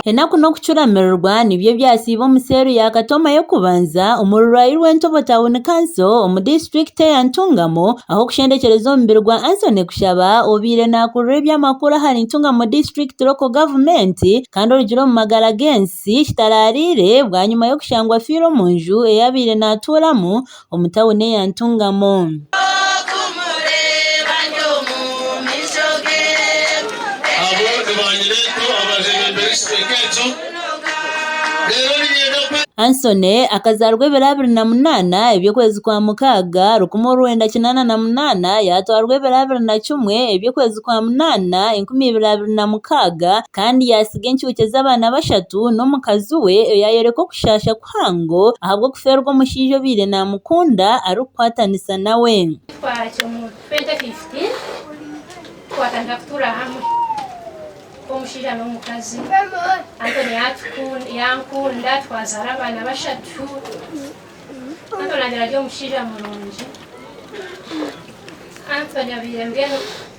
Enaku n'okucuramirirwa nibyo ebyasiiba omu seero ya Katoma y'okubanza omu rurwari rw'Entobo Town Council omu disiturikiti eya Ntungamo ah'okushendekyereza omubiri gwa Anthony Kushaba obaire nakurura eby'amakuru ahari Ntungamo District Local Government kandi orugire omu magara g'ensi kitaraariire bwanyima y'okushangwa afiire omu nju eyabaire natuuramu omu tauni eya Ntungamo. Hanson akazaarwa ebiro abiri na munaana eby'okwezi kwa mukaaga rukumi orwenda kinaana na munaana yaatwarwa ebiro abiri na kimwe eby'okwezi kwa munaana enkumi ibiri abiri na mukaaga kandi yaatsiga encuucu z'abaana bashatu n'omukazi we oyaayoreka okushaasha kwe muhango ahabw'okuferwa omushaija obaire namukunda arikukwatanisa nawe.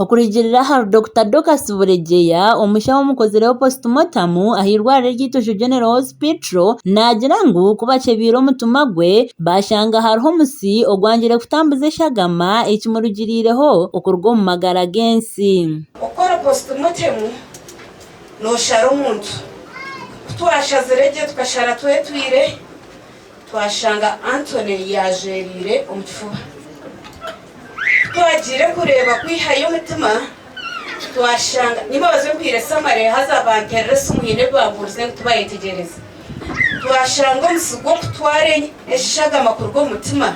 Okurugiirira ahari Dokita Dorcus Buregeya, omushaho omukozireho post mortem ah'eirwariro ery'eitootsyo General Hospital, naagira ngu ku bakyebeire omutima gwe, baashanga hariho omusi ogwangire kutambuza eshagama ekimurugiriireho okuruga omu magara g'ensi. Okukora post mortem nooshara omuntu. Ku twashazire gye tukashara twetwire. Twashanga Anthony yaajwereire omu kifuba. Ku twagiire kureeba kwihayo omutima, twashanga ni babaze mpire samare haza banterera esimu haine ebi baabuurize ngu tibayetegyereze. Twashanga omusi gw'okutwara eshagama kuruga omu mutima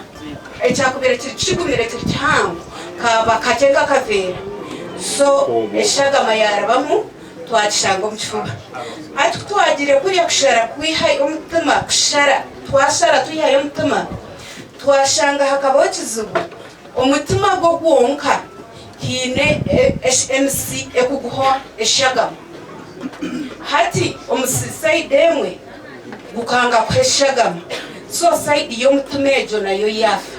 ekyakubaire kiri kigumire kiri kihango kaaba kakye nk'akaveera so eshagama yaarabamu. Twakishanga omu kifuba. Hati ku twagiire kurya kushara kwihayo omutima, kushara, twashara twihayo omutima, twashanga hakabaho ekizibu, omutima gwo gwonka haine emitsi ekuguha eshagama. Hati omutsitsi sayidi emwe gukanga kuha eshagama, so sayidi y'omutima egyo nayo yaafa.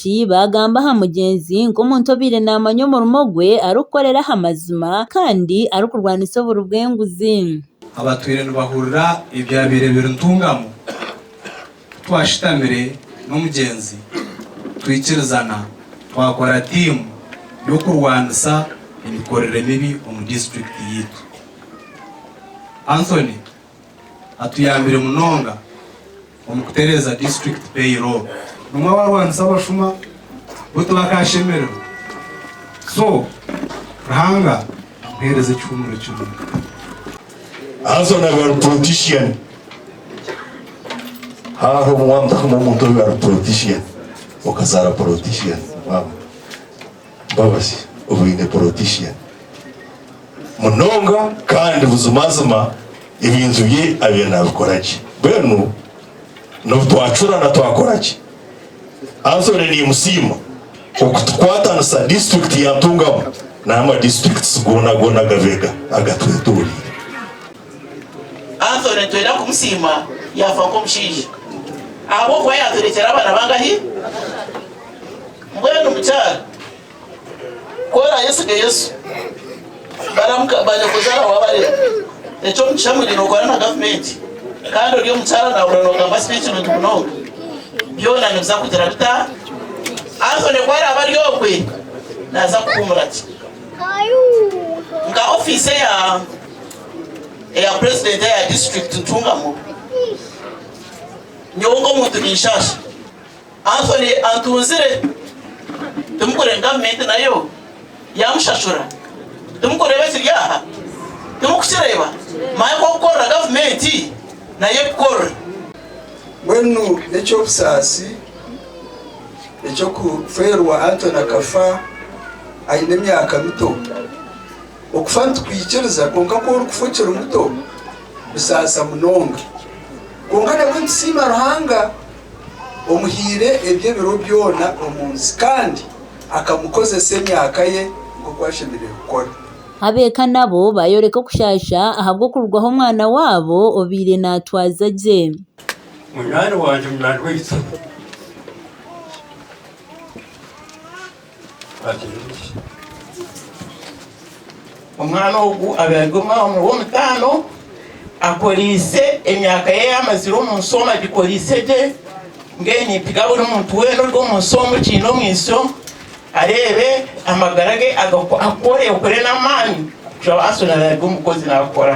Ti baagamba aha mugyenzi nk'omuntu obaire naamanya omurimo gwe arikukorera aha mazima kandi arikurwanisa oburi bw'enguzi. Abatwire nibahurira ebyabaire biri ntungamu. Ku twashutamire n'omugyenzi, twikirizana twakora tiimu y'okurwanisa emikorere mibi omu disiturikiti yaitu. Anthony. atuyambire munonga omu kutereeza disiturikiti payroll. Bamwe barwanisa abashuma bo tibakashemererwa so Ruhanga amuheereze ekihumuro kirungi. Haza na ba politician haroho obu wamutahamu omuntu owe ari politician okazaara politician mama. Mbabazi obwine politician munonga kandi buzimazima ebintu bye abire nabikora gye mbwenu nobu twacurana twakoraki Anthony nimusiima okutukwatanisa district ya Ntungamo nana ama districts gona gona agabega agatwetoreire. Anthony nitwenda kumusiima yaafa nk'omushaija ahabw'okuba yaaturekyera abaana bangahi? Mbwenu mukyara ku oraayesige Yesu, baramuka baanyakuzaara waabarema. Eky'omugisha ngu nyine okora na gavumenti kandi ori omukyara naahurira noogamba si bikirungi munonga. Byona nibiza kugira bita? Anthony ku araabe ari okwe, naaza kuhuumura gye. Nka ofiisi eya. eya purezidenti eya disiturikiti Ntungamo, nyowe nk'omuntu ninshaasha. Anthony antunzire, timukureeba gavumenti nayo yaamushashura? Timukureeba ekiri aha? Timukukireeba? Manya ku okukorera gavumenti nayo erikukorera. Mbwenu n'eky'obusaasi eky'okufeerwa Anthony akafa aine emyaka mito. Okufa nitukwikiriza, kwonka ku orikufa okiri muto nibisaasa munonga. Kwonka nabwo nitusiima Ruhanga omuhaire eby'ebiro byona omu nsi kandi akamukozesa emyaka ye nk'oku ashemereire kukora. Ab'eka nabo baayoreka okushaasha ahabw'okurwaho omwana waabo obaire naatwaza gye. Munywani wangye munyaanweitu. Omwana ogu abaire ari omwana w'omutaano akoriise emyaka ye ei amazire omu nsi omu agikoriise gye. Mbwenu nintsiga buri muntu weena ori omu nsi omu okiine omwisyo areebe amagara ge akore okore n'amaani kugira ngu ashuume naabe ari omukozi naakora.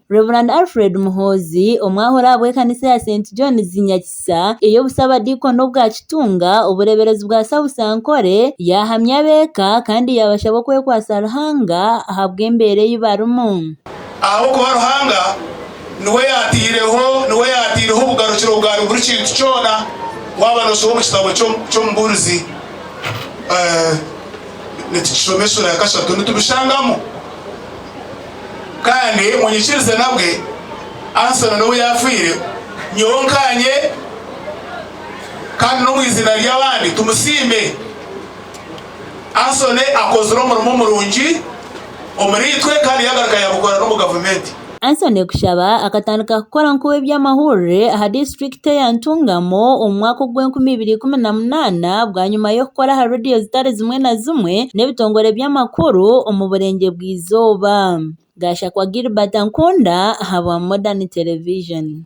Rev. Alfred Muhoozi omwahuri ahabw'ekanisa ya St Johns Nyakisa ey'obusabadiikoni obwa Kitunga obureeberezi bwa South Ankole yahamya ab'eka kandi yaabashaba okwekwatsa Ruhanga ahabw'embeera ei barimu. Ahabw'okuba Ruhanga niwe yaataireho niwe yaataireho obugarukiro bwa buri kintu kyona waaba noosoma omu kitabo ky'Omubuurizi nitukishoma eshuura ya kashatu nitubishangamu. Kandi munyikirize nabwe, Anson n'obu yaafiire, nyowe nkaanye kandi n'omu iziina ry'abandi tumusiime. Anson akozire omurimo murungi omuriitwe kandi yaagaruka yaagukora n'omu gavumenti. Anson Kushaba akatandika kukora nk'ow'eby'amahurire aha disiturikiti. Tea Ntungamo omu mwaka ogw'enkumi ibiri ikumi na munaana bwanyima y'okukora aha rediyo zitari zimwe na zimwe n'ebitongore by'amakuru omu burengyerwa bwa izooba. Gashakwa Gilbert Nkunda ahabwa Modern Television.